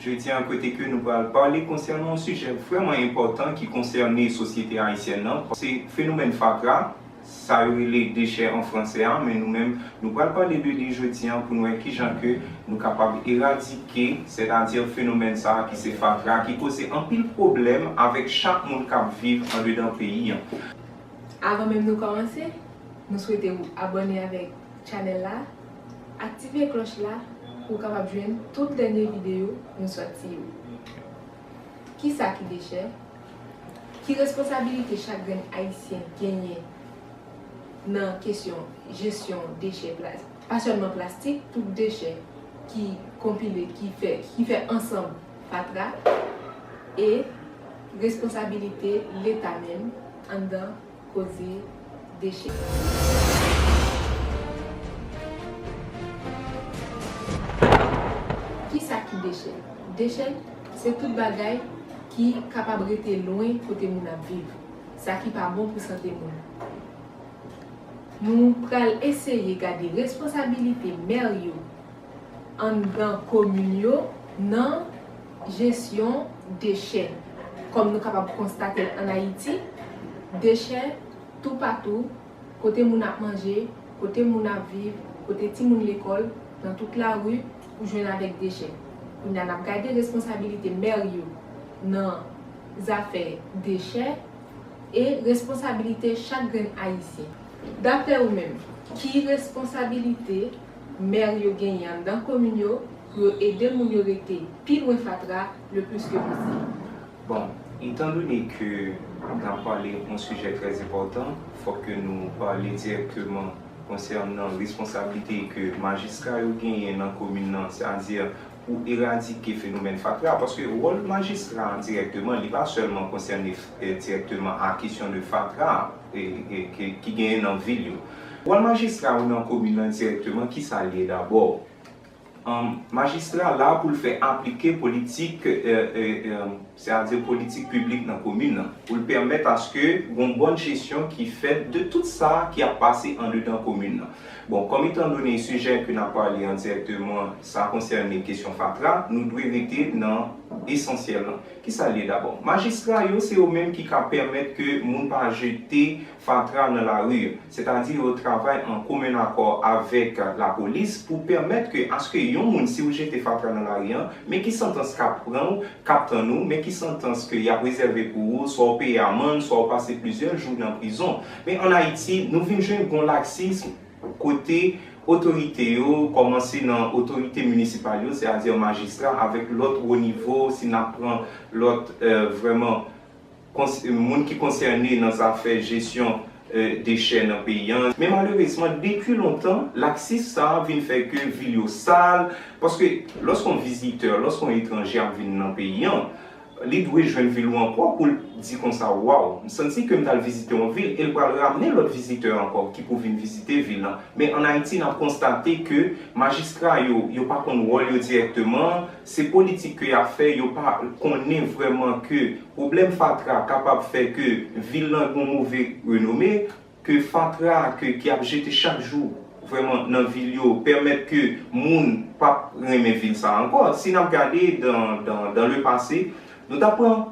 Jodi an kote ke nou pral pale konsènan yon sijè vrèman enpòtan ki konsène sosyete ayisyèn nan, se fenomèn fatra, sa yo rele dechè an fransè a, men nou menm nou pral pale de li jodi an pou nou wè kijan ke nou kapab eradike, sètadi fenomèn sa a ki se fatra ki koze anpil pwoblèm avèk chak moun k ap viv andedan peyi an. Avan menm nou kòmanse, nou swete ou abòne avèk channel la. Aktive klòch la pou w kapab jwenn tout dènye videyo nou sòti yo. Kisa ki dechè? Ki responsabilite chak grenn Ayisyen genyen nan kesyon jesyon dechè pa sèlman plastik, tout dechè ki konpile, ki fè ansanm fatra e responsabilite Leta menm anndan. Koze Deche. Kisa ki deche? Deche se tout bagay ki kapab rete lwen kote moun ap viv, sa ki pa bon pou sante moun. Nou pral eseye gade responsabilite mèr yo anndan komin yo nan jesyon dechè. Kòm nou kapab konstate l ann Ayiti, dechè toupatou, kote moun ap manje, kote moun ap viv, kote timoun lekòl, nan tout lari, ou jwenn avèk dechè. Kounye a, n ap gade responsabilite mè yo nan zafè dechè e responsabilite chak grenn Ayisyen. Dapre ou menm, ki responsabilite. mèr yo genyen anndan komin yo pou yo ede moun yo rete pi lwen fatra le plis ke posib. Bon, etan done ke n ap pale yon sijè trè enpòtan, fòk ke nou pale dirèkteman konsènan responsablite ke majistra yo genyen nan komin nan, sètadi pou eradike fenomèn fatra paske wòl majistra an dirèkteman li pa sèlman konsène dirèkteman a kesyon de fatra ki genyen nan vil yo. Wòl majistra yo nan komin lan dirèkteman ki sa l ye dabò? Majistra la pou l fè aplike politik. Se a dire politik piblik nan komin nan pou l pèmèt aske gon bòn jesyon ki fèt de tout sa ki ap pase andedan komin nan. Bon, kòm etan done sijè ke n ap pale an dirèkteman sa konsène kesyon fatra, nou dwe rete nan esansyèl lan. Ki sa l ye dabò? Majistra yo se yo menm ki ka pèmèt ke moun pa jete fatra nan lari. Sètadi yo travay an komen akò avèk lapolis pou pèmèt ke aske yon moun si ou jete fatra nan lari an, men ki santans k ap pran ou, k ap tann ou, men ki santans ke y ap rezève pou ou, swa ou peye amann, swa ou pase plizyè jou nan prizon. Men an Ayiti, nou vin jwenn gon laksism kote otorite yo, kòmanse nan otorite minisipal yo, sètadi majistra avèk lòt wo nivo, si n ap pran lòt vrèman. moun ki konsène nan zafè jesyon dechè nan peyi an. Men malerezman, depi lontan, laksis sa a vin fè ke vil yo sal, paske lòske yon vizitè, lòske yon etranje ap vin nan peyi an, li dwe jwenn vil ou an pwòp pou l di konsa, waw, m santi ke m t al vizite yon vil, e l pral ramne lòt vizitè ankò ki pou vin vizite vil lan. Men an Ayiti, n ap konstate ke majistra yo, yo pa konn wòl yo dirèkteman, Se politik ke yap fè, yo pa konnen vrèman ke pwoblèm fatra kapab fè ke vil lan gon move renome, ke fatra ke ki ap jete chak jou vrèman nan vil yo pèmèt ke moun pap renmen vil sa ankò. Si nap gade dan dan le pase, nou ta pran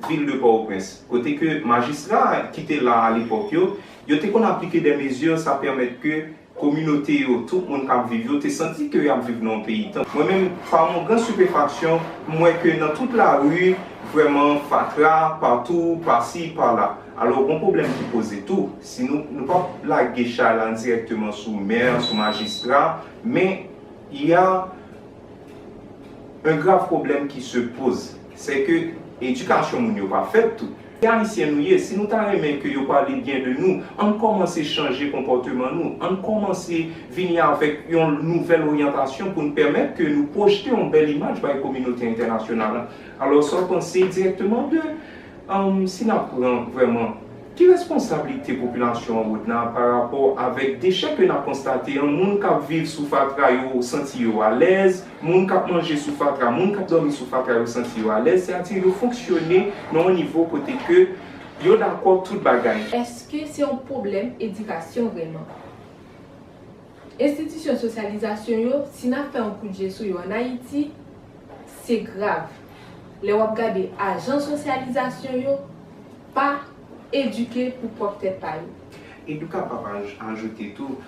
vil de Pòwoprens, kote ke majistra ki te la a lepòk yo, yo te konn aplike dè mezi sa pèmèt ke. Kominote yo, tout moun k ap viv yo, te santi ke y ap viv nan yon peyi tanp. Mwen menm, pa yon gran stupéfaction, m wè ke nan tout lari, vrèman, fatra, patou, pasi, pala. Alò, gon pwoblèm ki poze tou. Si nou, nou p ap lage chay la dirèkteman sou mè, sou majistra, men, y a un grave problème qui se pose, sè ke edikasyon moun yo pa fèt tou. Se Ayisyen nou ye, si nou ta renmen ke yo pale byen de nou, ann kòmanse chanje konpòteman nou, ann kòmanse vini avèk yon nouvèl oryantasyon pou n pèmèt ke nou pwojte yon bèl imaj bay kominote entènasyonal la. Alò, sa w panse dirèkteman de, si n ap pran vrèman, ki responsablite popilasyon an Rodna pa rapò avèk dechè ke n ap konstate an, moun k ap viv sou fatra yo santi yo alèz, Moun k ap manje sou fatra, moun k ap dòmi sou fatra yo santi yo alèz, se a di yo fonksyone nan yon nivo kote ke yo dakò tout bagay. Eske se yon pwoblèm edikasyon vrèman? Enstitisyon sosyalizasyon yo, si n ap fè yon kout je sou yo an Ayiti, se grav. Lè w ap gade ajan sosyalizasyon yo pa edike pou pwòp tèt pa yo. Edouka pa pa ajoute tou.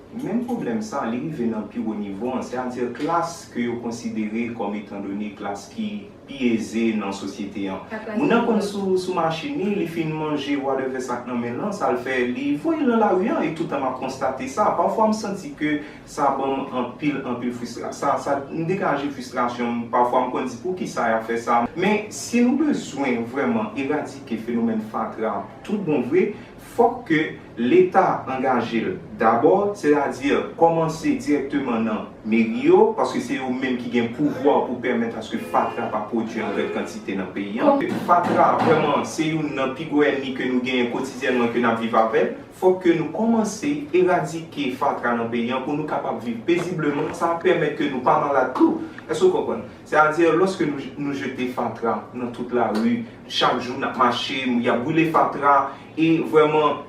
Menm pwoblèm sa, li rive nan pi wo nivo an, sètadi klas ke yo konsidere kòm etandone klas ki pi eze nan sosyete an. Moun nan konn sou machin li, li fin manje wadèvè sa k nan men l lan, sa l fè, li voye l nan lari an, e toutan m ap konstate sa, pafwa m santi ke sa ban m anpil, anpil fristra, sa, sa, m degaje fristrasyon m, pafwa m konn di poukisa y ap fè sa, men si nou bezwen vrèman eradike fenomèn fatra tout bon vre, Fòk ke Leta angaje l dabò, sètadi kòmanse dirèkteman nan meri yo, paske se yo menm ki gen pouvwa pou pèmèt aske fatra pa pwodui an gran kantite nan peyi an. Fatra, vrèman, se youn nan pi gwo ènmi ke nou genyen kotidyènman ke n ap viv avè l. Fòk ke nou kòmanse eradike fatra nan peyi an pou nou kapab viv pezibleman. Sa ap pèmèt ke nou pa malad tou. Èske w konprann? Sètadi, lòske nou jete fatra nan tout lari, Chak jou nap mache, yap boule fatra e vrèman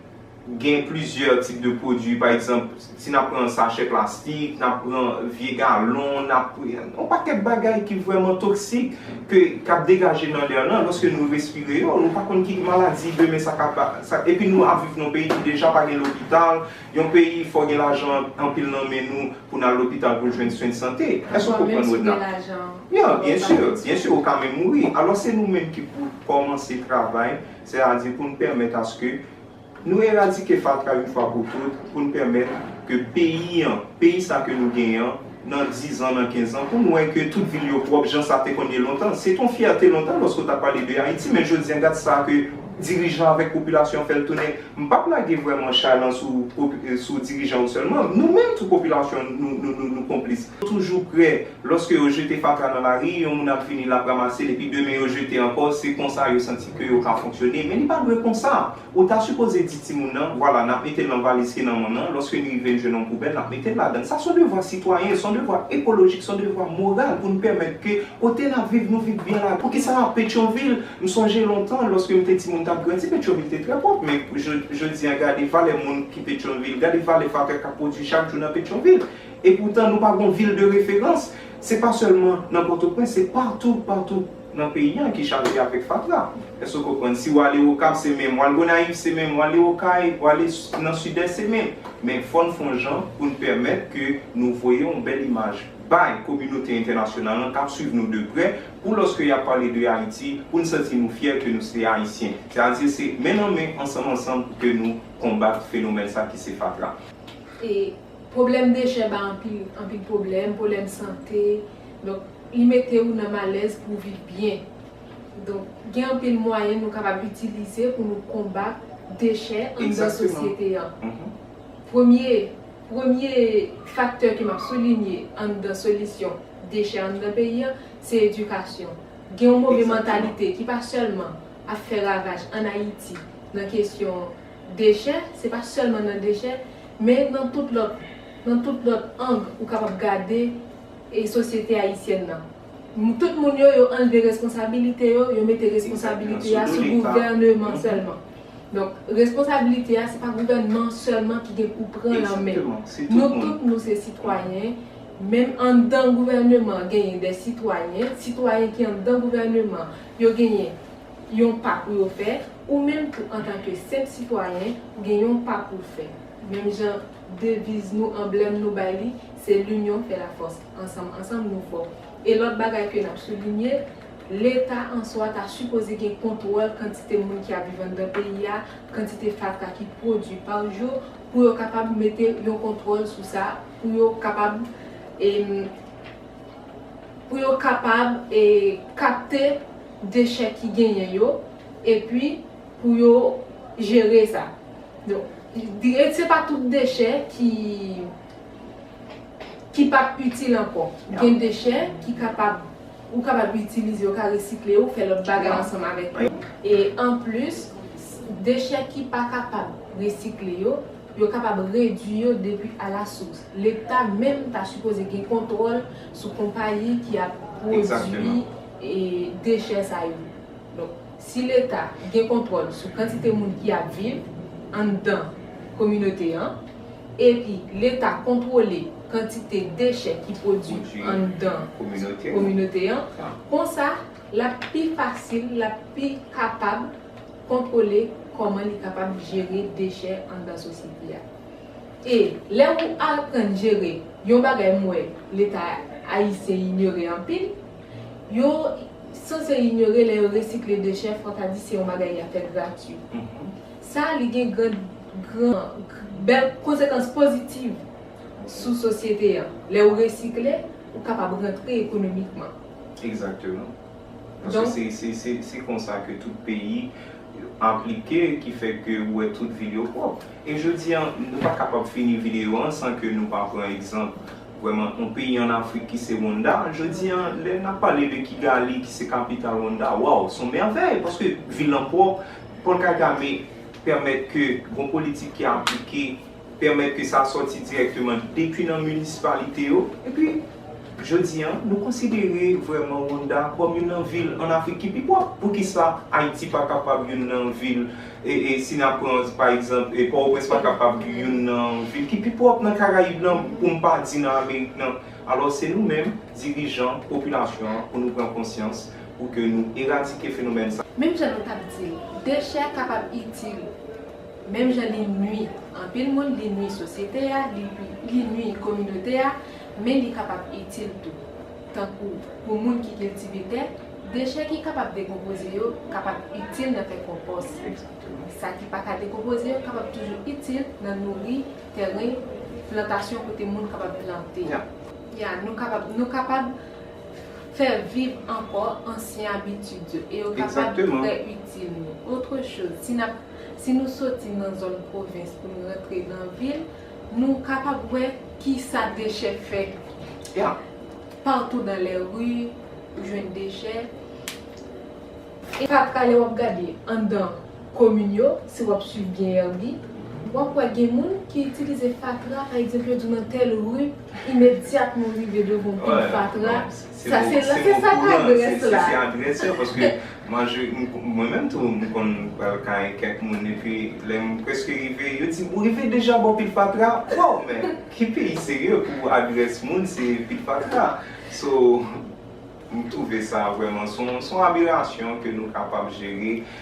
gen plizyè tip de pwodui pa egzanp si nap pran sachè plastik, nap pran vye galon, nap yon pakèt bagay ki vrèman toksik ke kap degaje nan lè lan lòske nou respire yo nou pa konn ki maladi demen sa ka epi nou ap viv nan yon peyi ki deja pa gen lopital, Yon peyi fò gen lajan anpil nan men nou pou n al lopital pou n jwenn swen sante. Èske ou konprann mwen la? Ya, byen si, byen si ou ka menm mouri. Alò se nou menm ki pou kòmanse travay, sètadi pou n pèmèt aske nou eradike fatra yon fwa pou tout, pou n pèmèt ke peyi an, peyi sa ke nou genyen an, nan dizan, nan kenzan, pou n wè ke tout vil yo pwòp jan sa te konn ye lontan. Se te yon fyète lontan lòske w t ap pale de Ayiti, men jodi an gad sa ke dirijan avèk popilasyon fè l tounen. M p ap lage vrèman chay lan sou sou dirijan yo sèlman, nou menm tou popilasyon an nou nou nou nou konplis. Toujou prè, lòske yo jete fatra nan lari, yon moun ap vini l ap ramase l epi demen yo jete ankò, se konsa yo santi ke yo ka fonksyone. Men li pa dwe konsa! Ou ta sipoze di timoun nan, vwala, n ap mete l nan valiz ki nan monn nan, lòske li rive n jwenn yon poubèl, n ap mete l ladan l. Sa s on devwa sitwayen, s on devwa ekolojik, s on devwa moral pou n pèmèt ke kote n ap viv, nou viv byen ladan l. Poukisa Petyonvil? M sonje lontan, lòske m te timoun, m t ap grandi, Petyonvil te trè pwòp. Men, jodi a, gade valè moun ki Petyonvil, gade valè fakè k ap pwodui chak jou nan Petyonvil. Epoutan, nou pa gen yon vil de referans. Se pa sèlman nan Pòtoprens, se patou, patou. nan peyi an ki chaje avèk fatra èske ou konprann si ou ale okap se menm ou al gonayiv se menm ou ale okay ou ale nan sidès se menm men fòn fon jan poun pèmèt ke nou voye yon bèl imaj bay kominote entènasyonal lan kap swiv nou de prè pou lòske yap pale de ayiti poun santi nou fyè ke nou se ayisyen se a di se men nan men ansanm ansanm pou ke nou konbat fenomèn sa ki se fatra. E pwoblèm dechè ba anpil anpil pwoblèm pwolèm sante. Donk, li mete ou nan malèz pou viv byen. Donk, gen anpil mwayen nou kapab itilize pou nou konbat dechè anndan sosyete an. Premye, premye faktè ke m ap soulinye anndan solisyon dechè anndan peyi an, se edikasyon. Gen yon move mantalite ki pa sèlman ap fè ravaj ann Ayiti nan kesyon dechè, se pa sèlman nan dechè, men nan tout lòt, nan tout lòt ang ou kapab gade e sosyete ayisyèn nan. Tout moun yo, yo anlve responsabilite yo, yo mete responsabilite a sou gouvèneman sèlman. Donk, responsabilite a se pa gouvènman sèlman ki gen pou pran l an men. Nou tout nou se sitwayen, menm anndan gouvèneman genyen dè sitwayen, sitwayen ki anndan gouvèneman yo genyen yon pa pou yo fè, ou menm tou antanke senp sitwayen ou gen yon pa pou w fè. Menm jan. Deviz nou, anblèm nou bay li, se L'union fait la force, Ansanm ansanm nou fò. E lòt bagay ke n ap soulinye, Leta an swa ta sipoze gen kontwòl kantite moun ki ap viv anndan peyi a, kantite fatra ki pwodui pa jou, pou yo kapab mete yon kontwòl sou sa, pou yo kapab e pou yo kapab e kapte dechè ki genyen yo, epi. Pou yo jere sa. Donk se pa tout dechè ki ki pap itil ankò. Gen dechè ki kapab ou kapab itilize yo, ou ka resikle yo, fè lòt bagay ansanm avèk yo. E anplis, dechè ki pa kapab resikle yo, yo kapab redui yo depi a la sous. Leta menm ta sipoze gen kontwòl sou konpayi ki ap pwodui dechè sa yo. Si Leta gen kontwòl sou kantite moun ki ap viv anndan kominote an, epi Leta kontwole kantite dechè ki pwodui anndan kominote an, konsa l ap pi fasil, l ap pi kapab kontwole kòman li kapab jere dechè anndan sosyete a. E lè ou aprann jere yon bagay m wè Leta ayisyen inyore anpil, Yo sanse inyore lè yo resikle dechè fò ta di se yon bagay ya fè gratwi. Sa li gen gran gran bèl konsekans pozitiv sou sosyete an. Lè ou resikle, ou kapab rantre ekonomikman. Egzakteman. Paske se se se konsa ke tout peyi enplike ki fè ke ou wè tout vil yo pwòp. E jodi an, nou pa kapab fini videyo an san ke nou pa pran egzanp Vrèman, yon peyi an Afrik ki se Wonnda, jodi a, lè n ap pale de Kigali ki se kapital Wonnda, waw, s on mèvèy, paske vil lan pwòp, Paul Kagame pèmèt ke bon politik ki aplike, pèmèt ke sa sòti dirèkteman depi nan minisipalite yo, epi jodi a, nou konsidere vrèman Wonnda kòm youn nan vil an Afrik ki pi pwòp. Poukisa Ayiti pa kapab youn nan vil. E si n ap pran pa egzanp, e Pòtoprens pa kapab youn nan vil ki pi pwòp nan Karayib lan, pou m pa di nan Amerik nan. Alò se nou menm, dirijan, popilasyon an, pou nou pran konsyans, pou ke nou eradike fenomèn sa. Menm jan nou t ap di l, dechè kapab itil, menm jan li nui anpil moun, li nui sosyete a, li nui kominote a, men li kapab itil tou. tankou pou moun ki kiltive tè, dechè ki kapab dekonpoze yo kapab itil nan fè konpòs. Sa ki pa ka dekonpoze yo kapab toujou itil nan nouri tèren plantasyon kote moun kapab plante. Ya, nou kapab, nou kapab fè viv ankò ansyen abitid yo e yo kapab trè itil nou. Otre choz, si n ap, si nou soti nan zòn pwovens pou nou rantre nan vil, Nou kapab wè kisa dechè fè la. Patou nan lè ri ou jwenn dechè. E pa prale wap gade anndan komin yo, si wap swiv byen Herby, wap wè gen moun ki itilize fatra pa egzanp yo di nan tèl ri imedyatman ou rive devan yon pil fatra. Sa se lan ke sa ka adrès la. Se adrès yo paske manje mwen menm tou m konn pral kay kèk moun epi lè m preske rive yo di m ou rive deja bò pil fatra waw men ki peyi serye pou adrès moun se pil fatra so m twouve sa vrèman son aberasyon ke nou kapab jere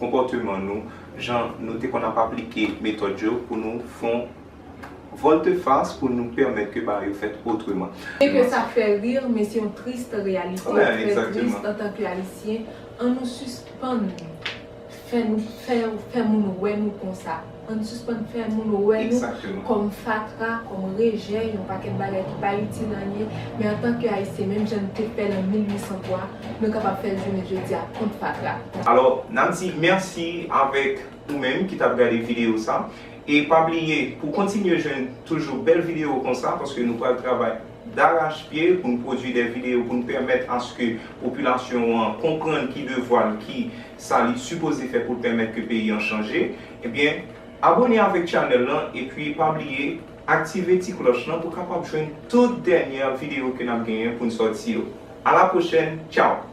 konpòteman nou, jan nou te konn ap aplike metòd yo pou nou fon vòltefas pou nou pèmèt ke bagay yo fèt otreman. Byen ke sa fè rir, men se yon triste reyalite, trè triste antanke Ayisyen, an nou sispann fè nou fè fè moun wè nou konsa. Ann sispann fè moun wè nou kòm fatra, kòm rejè, yon pakèt bagay ki pa itil anyen, men antanke Ayisyen, menm jan n te fè l an 1803, nou kapab fè l jounen jodi a kont fatra. Alò, n ap di mèsi avèk ou menm ki t ap gade videyo sa, e pa bliye pou w kontinye jwenn toujou bèl videyo konsa, paske nou pral travay darachpye pou n pwodui de videyo pou n pèmèt aske popilasyon an konprann ki devwa l, ki. sa li sipoze fè poul pèmèt ke peyi an chanje ebyen abone avèk channel lan epi pa bliye aktive ti klòch lan pou kapab jwenn tout dènyè video ke nap genyen poun sòti yo a la pwochèn tchaww.